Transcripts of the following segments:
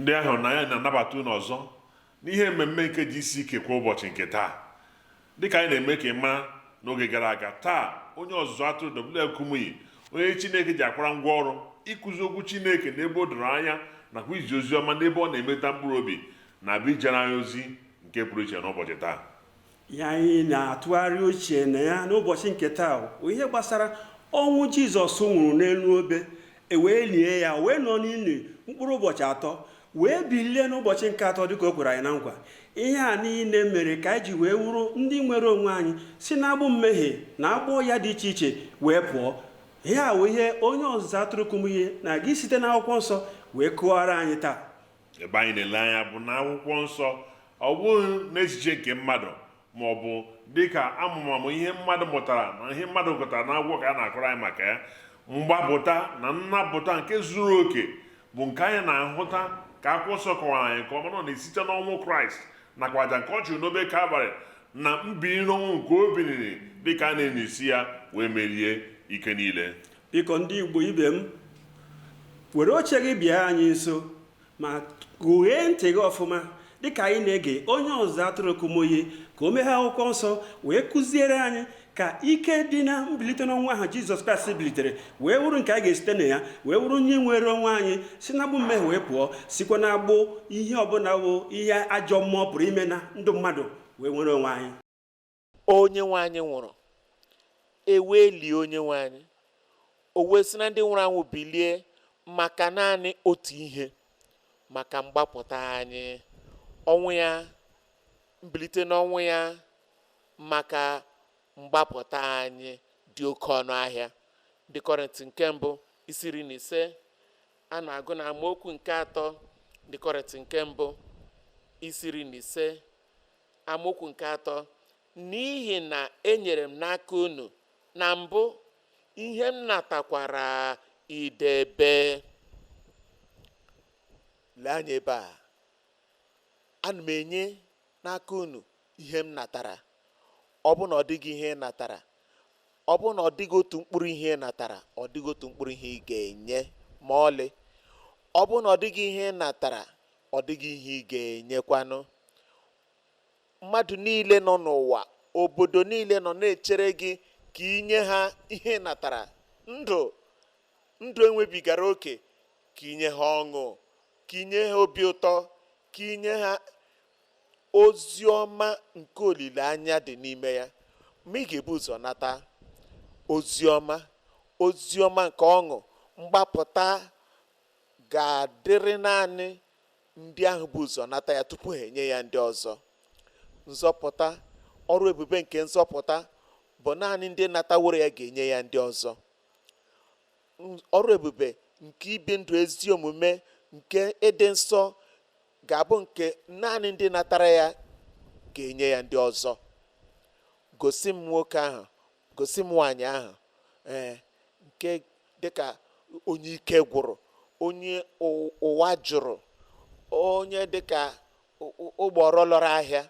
ndị ahụ na ya na-anabata unu ọzọ n'ihe mmemme nke GCK kwa ụbọchị nke taa dịka anyị na-eme ka ị mara n'oge gara aga taa onye ọzụzụ atụrụ WF Kumuyi onye Chineke ji akwara ngwa ọrụ ịkụzi okwu Chineke n'ebe o doro anya nakwa izi ozi ọma n'ebe ọ na-emeta mkpụrụ obi na-abịa ijere anyị ozi nke pụrụ iche n'ụbọchị taa ihe anyị na-atụgharị uche na ya n'ụbọchị nke taa bụ ihe gbasara ọnwụ jizọs nwụrụ n'elu obe ewee lie ya wee nọ n'ili mkpụrụ ụbọchị atọ wee bilie n'ụbọchị nke atọ dịka o kwere anyị na nkwa ihe a niile mere ka anyị ji wee wụrụ ndị nwere onwe anyị si n'agbụ mmehie na agbụ ọya dị iche iche wee pụọ ihe a wụ ihe onye ọzụzụ atụrụ Kumuyi na-aga isite n'akwụkwọ nsọ wee kọọrọ anyị taa ebe anyị na-ele anya bụ na akwụkwọ nsọ ọ bụghị n'echiche nke mmadụ ma ọ bụ dịka amụmamụ ihe mmadụ mụtara na ihe mmadụ gụtara na akwụkwọ ka a na-akọrọ anyị maka ya mgbapụta na nnapụta nke zuru oke bụ nke anyị na-ahụta ka akwụkwọ nsọ kọwara anyị nke ọma na ọ na-esite n'ọnwụ kraịst nakwa aja nke ọ chụrụ n'obe kalvarị na mbili n'ọnwụ nke o biliri dịka a na-enye isi ya wee merie ike niile Biko ndị Igbo ibe m, were oche gị bịa anyị nso ma gụghee ntị gị ọfụma dịka anyị na-ege onye ọzụzụ atụrụ Kumuyi ka o meghe akwụkwọ nsọ wee kụziere anyị ka ike dị na mbilite n'ọnwụ ahụ Jizọs Kraịst bilitere wee wụrụ nke anyị ga-esite na ya wee wụrụ ndị nwere onwe anyị si na agbụ mmehie wee pụọ sikwa na agbụ ihe ọbụla wụ ihe ajọ mmụọ pụrụ ime na ndụ mmadụ wee nwere onwe anyị onye nwe anyị nwụrụ ewee lie onye nwe anyị o wee si na ndị nwụrụ anwụ bilie maka naanị otu ihe maka mgbapụta anyị ọnwụ ya mbilite n'ọnwụ ya maka mgbapụta anyị dị oke ọnụ ahịa ndị kọrịntị nke mbụ isi iri na ise a na-agụ na amaokwu nke atọ ndị kọrịntị nke mbụ isi iri na ise amaokwu nke atọ n'ihi na enyere m n'aka unu na mbụ ihe m natakwara idebe lee anya ebe a ana m enye n'aka unu ihe m natara ọ bụrụ na ọ dịghị ihe ị natara ọ bụrụ na ọ dịghị otu mkpụrụ ihe ị natara ọ dịghị otu mkpụrụ ihe ị ga-enye ma ọlị ọ bụrụ na ọ dịghị ihe ị natara ọ dịghị ihe ị ga-enyekwanụ mmadụ niile nọ n'ụwa obodo niile nọ na-echere gị ka ị nye ha ihe ị natara ndụ ndụ enwebigara oke ka ị nye ha ọṅụ ka ị nye ha obi ụtọ ka ị nye ha ozi ọma nke olileanya dị n'ime ya ma ị ga-ebu ụzọ nata ozi ọma ozi ọma nke ọṅụ mgbapụta ga-adịrị naanị ndị ahụ bu ụzọ nata ya tupu ha enye ya ndị ọzọ nzọpụta ọrụ ebube nke nzọpụta bụ naanị ndị nataworo ya ga-enye ya ndị ọzọ ọrụ ebube nke ibi ndụ ezi omume nke ịdị nsọ ga-abụ nke naanị ndị natara ya ga-enye ya ndị ọzọ gosi m nwoke ahụ gosi m nwaanyị ahụ ee nke dịka onye ike gwụrụ onye ụwa jụrụ onye dịka ụgbọrọ lọrọ ahịa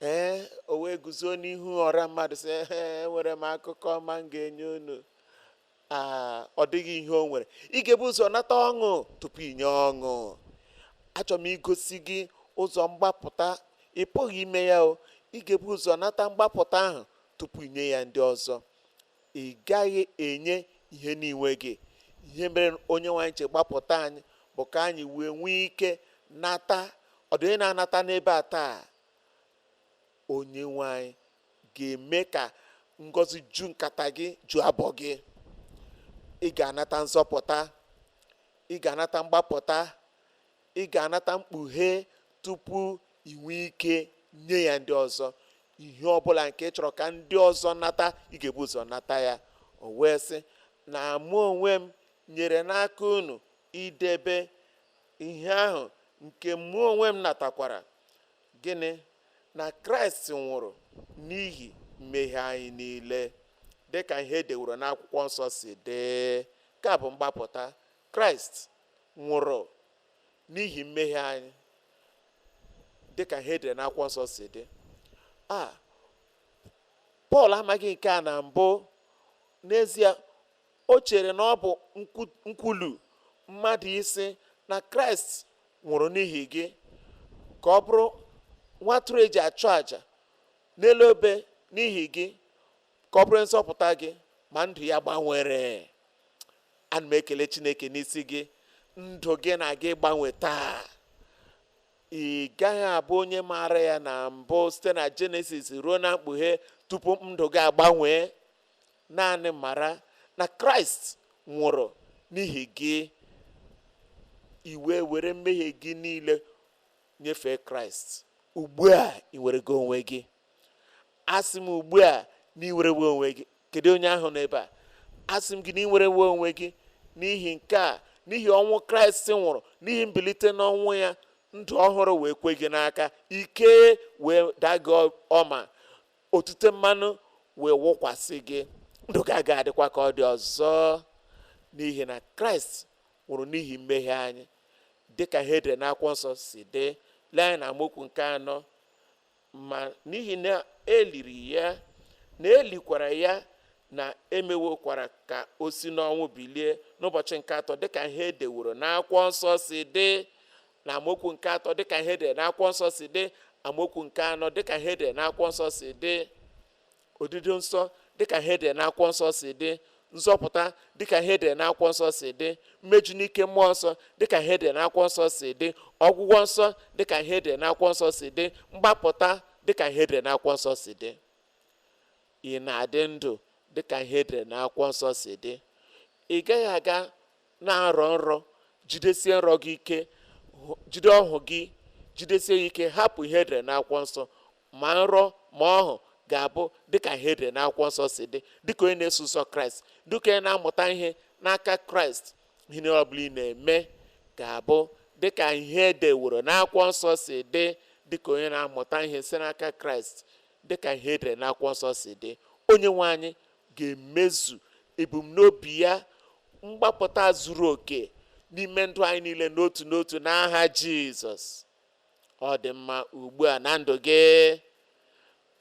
ee o wee guzo n'ihu ọra mmadụ sị enwere m akụkọ ọma m ga-enye unu aa ọ dịghị ihe o nwere ị ga-ebu ụzọ nata ọṅụ tupu ị nye ọṅụ achọrọ m igosi gị ụzọ mgbapụta ị pụghị ime ya o ị ga-ebu ụzọ nata mgbapụta ahụ tupu ị nye ya ndị ọzọ ị gaghị enye ihe na ị nweghị ihe mere onye nwe anyị ji gbapụta anyị bụ ka anyị wee nwee ike nata ọ dị onye na-anata n'ebe a taa onye nwe anyị ga-eme ka ngọzi ju nkata gị ju abọ gị ị ga-anata nzọpụta ị ga-anata mgbapụta ị ga-anata mkpughe tupu ị nwee ike nye ya ndị ọzọ ihe ọbụla nke ị chọrọ ka ndị ọzọ nata ị ga-ebu ụzọ nata ya o wee sị na mụ onwe m nyere n'aka unu idebe ihe ahụ nke mụ onwe m natakwara gịnị na kraịst nwụrụ n'ihi mmehie anyị niile dị ka ihe edeworo n'akwụkwọ nsọ si dị nke a bụ mgbapụta kraịst nwụrụ n'ihi mmehie anyị dị ka ihe edere n'akwụkwọ nsọ si dị a pọl amaghị nke a na mbụ n'ezie o chere na ọ bụ nkwulu mmadụ ịsị na kraịst nwụrụ n'ihi gị ka ọ bụrụ nwa atụrụ eji achụ àjà n'elu obe n'ihi gị ka ọ bụrụ nzọpụta gị ma ndụ ya gbanwere ana m ekele chineke n'isi gị ndụ gị na-aga ịgbanwe taa ị gaghị abụ onye maara ya na mbụ site na jenesis ruo na mkpughe tupu ndụ gị agbanwee naanị mara na kraịst nwụrụ n'ihi gị i wee were mmehie gị niile nyefee kraịst ugbu a ị nwere gị onwe gị asị m ugbu a na i nwerewo onwe gị kedu onye ahụ n'ebe a asị m gị na i nwerewo onwe gị n'ihi nke a n'ihi ọnwụ kraịst nwụrụ n'ihi mbilite n'ọnwụ ya ndụ ọhụrụ wee kwe gị n'aka ike wee daa gị ọma otute mmanụ wee wụkwasị gị ndụ gị agaghị adịkwa ka ọ dị ọzọ n'ihi na kraịst nwụrụ n'ihi mmehie anyị dị ka ihe edere n'akwụkwọ nsọ si dị lee anya n'amaokwu nke anọ ma n'ihi na eliri ya na elikwara ya na emewokwara ka o si n'ọnwụ bilie n'ụbọchị nke atọ dịka ihe edeworo n'akwụkwọ nsọ si dị n'amaokwu nke atọ dịka ihe edere n'akwụkwọ nsọ si dị amaokwu nke anọ dịka ihe edere n'akwụkwọ nsọ si dị odido nsọ dịka ihe edere n'akwụkwọ nsọ si dị nzọpụta dịka ihe edere n'akwụkwọ nsọ si dị mmeju n'ike mmụọ nsọ dịka ihe edere n'akwụkwọ nsọ si dị ọgwụgwọ nsọ dịka ihe edere n'akwụkwọ nsọ si dị mgbapụta dịka ihe edere n'akwụkwọ nsọ si dị ị na-adị ndụ dịka ihe edere n'akwụkwọ nsọ si dị ị gaghị aga na-arọ nrọ jidesie nrọ gị ike jide ọhụ gị jidesie ya ike hapụ ihe edere n'akwụkwọ nsọ ma nrọ ma ọhụ ga-abụ dịka ihe edere n'akwụkwọ nsọ si dị dịka onye na-eso ụzọ kraịst dịka onye na-amụta ihe n'aka kraịst ihe niile ọbụla ị na-eme ga-abụ dịka ihe edeworo n'akwụkwọ nsọ si dị dịka onye na-amụta ihe si n'aka kraịst dịka ihe edere n'akwụkwọ nsọ si dị onye nwe anyị ga-emezu ebumnobi ya mgbapụta zuru oke n'ime ndụ anyị niile n'otu n'otu n'aha Jizọs ọ dị mma ugbu a na ndụ gị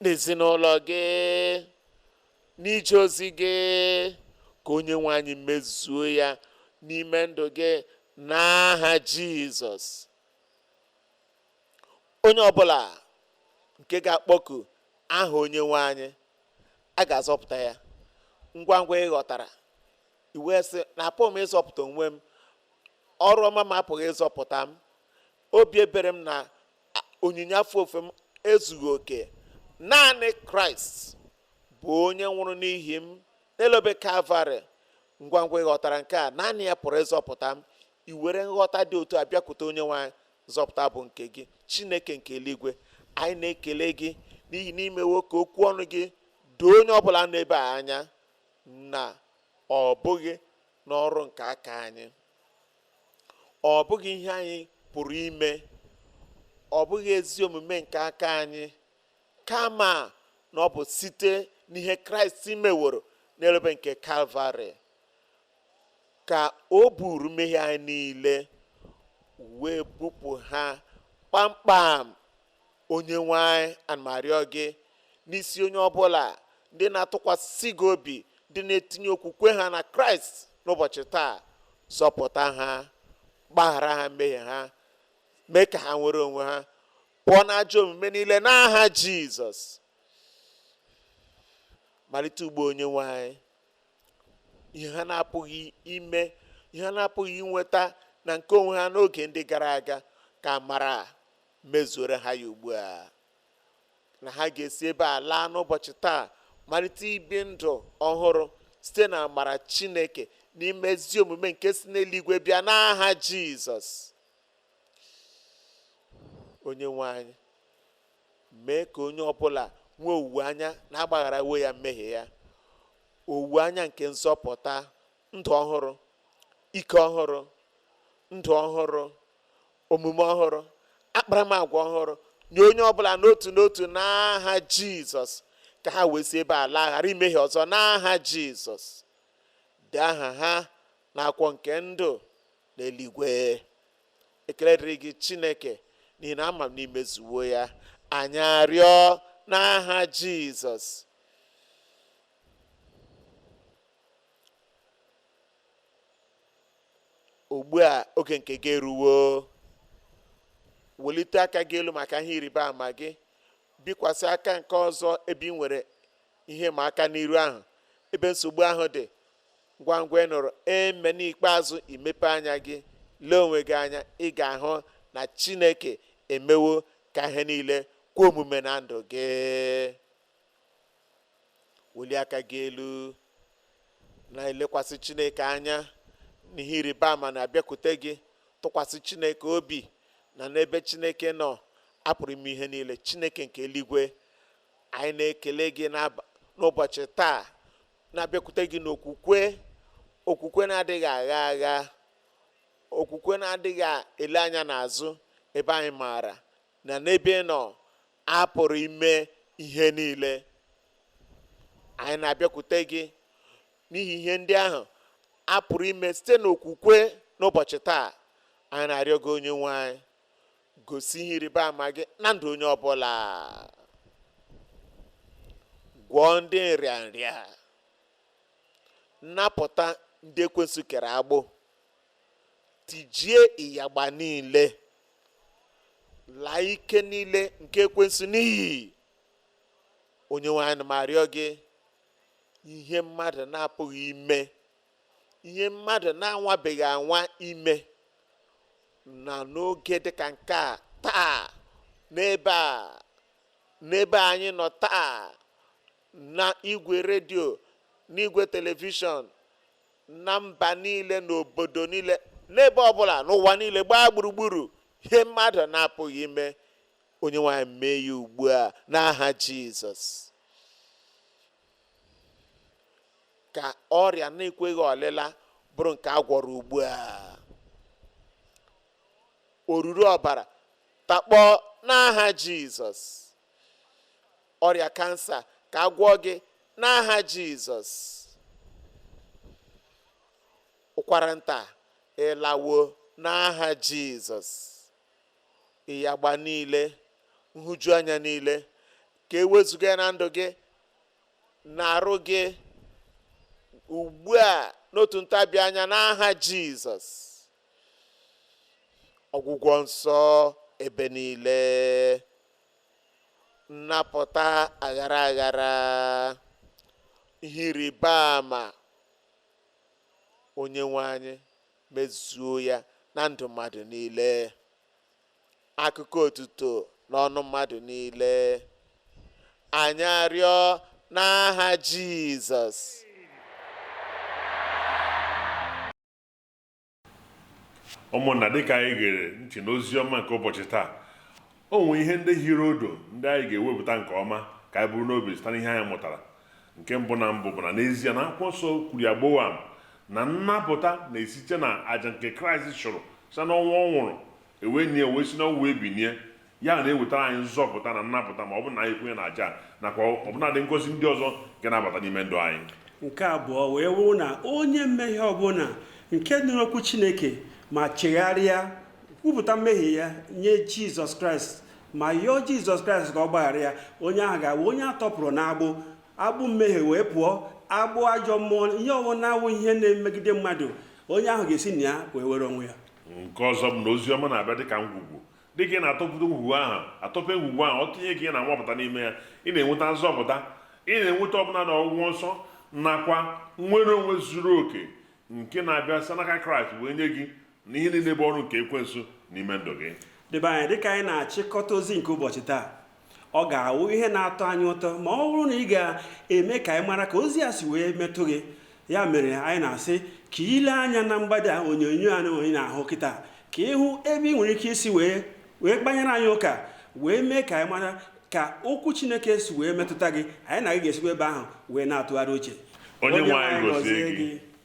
n'ezinụlọ gị n'ije ozi gị ka onye nwe anyị mezuo ya n'ime ndụ gị n'aha Jizọs onye ọbụla nke ga-akpọku aha onyenwe anyị a ga-azọpụta ya ngwa ngwa ị ghọtara i wee sị na apụghị m ịzọpụta onwe m ọrụ ọma m apụghị ịzọpụta m obi ebere m na onyinye afọ ofufo m ezughị oke naanị kraịst bụ onye nwụrụ n'ihi m n'elu obe kalvarị ngwa ngwa ị ghọtara nke a naanị ya pụrụ ịzọpụta m i were nghọta dị otu a bịakwute onye nwe anyị Nzọpụta bụ nke gị, Chineke nke eluigwe. Anyị na-ekele gị n'ihi na imewo ka okwu ọnụ gị doo onye ọbụla nọ ebe a anya na ọ bụghị n'ọrụ nke aka anyị ọ bụghị ihe anyị pụrụ ime ọ bụghị ezi omume nke aka anyị kama na ọ bụ site n'ihe kraịst meworo n'elu obe nke kalvarị ka o buuru mmehie anyị niile wee bupụ ha kpamkpam onye nwe anyị ana m arịọ gị n'isi onye ọbụla ndị na-atụkwasị gị obi ndị na-etinye okwukwe ha na kraịst n'ụbọchị taa zọpụta ha gbaghara ha mmehie ha mee ka ha nwere onwe ha pụọ na ajọ omume niile n'aha jizọs malite ugbu a onye nwe anyị ihe ha na-apụghị ime ihe ha na-apụghị inweta na nke onwe ha n'oge ndị gara aga ka amara mezuoro ha ya ugbu a na ha ga-esi ebe a laa n'ụbọchị taa malite ibi ndụ ọhụrụ site na amara chineke n'ime ezi omume nke si n'eluigwe bịa n'aha jizọs onye nwe anyị mee ka onye ọbụla nwee owuwe anya na agbagharawo ya mmehie ya owuwe anya nke nzọpụta ndụ ọhụrụ ike ọhụrụ ndụ ọhụrụ omume ọhụrụ akparamagwa ọhụrụ nye onye ọbụla n'otu n'otu n'aha jizọs ka ha wee si ebe a laa ghara imehie ọzọ n'aha jizọs dee aha ha n'akwụkwọ nke ndụ n'eluigwe ekele dịrị gị chineke n'ihi na ama m na imezuwo ya anyị arịọ n'aha jizọs ugbu a oge nke gị eruwo welite aka gị elu maka ihe ịrịba ama gị bikwasị aka nke ọzọ ebe ị nwere ihe ịma aka n'iru ahụ ebe nsogbu ahụ dị ngwa ngwa ị nụrụ amen ikpeazụ i mepee anya gị lee onwe gị anya ị ga-ahụ na chineke emewo ka ihe niile kwe omume na ndụ gị welie aka gị elu na-elekwasị chineke anya n'ihe ịrịba ama na-abịakwute gị tụkwasị chineke obi na n'ebe chineke nọ a pụrụ ime ihe niile chineke nke eluigwe anyị na-ekele gị n'ụbọchị taa na-abịakwute gị n'okwukwe okwukwe na-adịghị agha agha okwukwe na-adịghị ele anya n'azụ ebe anyị maara na n'ebe ị nọ a pụrụ ime ihe niile anyị na-abịakwute gị n'ihi ihe ndị ahụ a pụrụ ime site n'okwukwe n'ụbọchị taa anyị na-arịọ gị onye nwe anyị gosi ihe ịrịba ama gị na ndụ onye ọbụla gwọọ ndị nrịanrịa napụta ndị ekwensu kere agbụ tijie ịyagba niile laa ike niile nke ekwensu n'iyi onye nwe anyị m arịọ gị ihe mmadụ na-apụghị ime ihe mmadụ na-anwabeghị anwa ime na n'oge dịka nke a taa n'ebe a n'ebe anyị nọ taa na igwe redio n'igwe telivishọn na mba niile n'obodo niile n'ebe ọbụla n'ụwa niile gbaa gburugburu ihe mmadụ na-apụghị ime onye nwe anyị mee ya ugbu a n'aha jizọs ka ọrịa na-ekweghị ọlịla bụrụ nke a gwọrọ ugbu a oruru ọbara takpọọ n'aha jizọs ọrịa kansa ka a gwọọ gị n'aha jizọs ụkwara nta ị lawo n'aha jizọs ịyagba niile nhụjuanya niile ka e wezuga ya na ndụ gị na arụ gị ugbu a n'otu ntabi anya n'aha jizọs ọgwụgwọ nsọ ebe niile nnapụta aghara aghara ihe ịrịba ama onye nwe anyị mezuo ya na ndụ mmadụ niile akụkọ otuto n'ọnụ mmadụ niile anyị arịọ n'aha Jizọs ụmụnna dịka anyị gere ntị n'ozi ọma nke ụbọchị taa O nwere ihe ndị hiri odo ndị anyị ga-ewepụta nke ọma ka anyị buru n'obi site n'ihe anyị mụtara. Nke mbụ na mbụ bụ na n'ezie na akwụkwọ nsọ kwuru ya gbowam na nnapụta na-esite na aja nke Kraịst chụrụ site n'ọnwụ ọ nwụrụ e wee nie wee si n'ọnwụ wee binie. Ya na-ewetara anyị nzọpụta na nnapụta ma ọ bụrụ na anyị kwenye na aja a nakwa ọbụnadị ngọzi ndị ọzọ nke na-abata n'ime ndụ anyị. Nke abụọ wee wụrụ na onye mmehie ọbụla nke nụrụ okwu Chineke ma chegharịa kwupụta mmehie ya nye jizọs kraịst ma yọọ jizọs kraịst ka ọ gbaghara ya onye ahụ ga-abụ onye a tọpụrụ n'agbụ agbụ mmehie wee pụọ agbụ ajọ mmụọ ihe ọwụna wụ ihe na-emegide mmadụ onye ahụ ga-esi na ya wee nwere onwe ya nke ọzọ bụ na ozi ọma na-abịa dịka ngwugwu dịka ị na-atọpụta ngwugwu ahụ atọpe ngwugwu ahụ ọtụtụ ihe ka ị na-anwapụta n'ime ya ị na-enweta nzọpụta ị na-enweta ọbụna na ọgwụgwọ nsọ nakwa nnwere onwe zuru oke nke na-abịa site n'aka kraịst wee nye gị na ihe niile bụ ọrụ nke ekwensu n'ime ndụ gị debe anya dịka anyị na-achịkọta ozi nke ụbọchị taa ọ ga-awụ ihe na-atọ anyị ụtọ ma ọ bụrụ na ị ga-eme ka anyị mara ka ozi a si wee metụ gị ya mere anyị na-asị ka ile anya na mgbada onyonyo a ị na-ahụ kịta ka ịhụ ebe ị nwere ike isi wee kpanyere anyị ụka wee mee ka anyị mara ka okwu chineke si wee metụta gị anyị na gị ga-esikwa ebe ahụ wee na-atụgharị uche onye nwe anyị gozie gị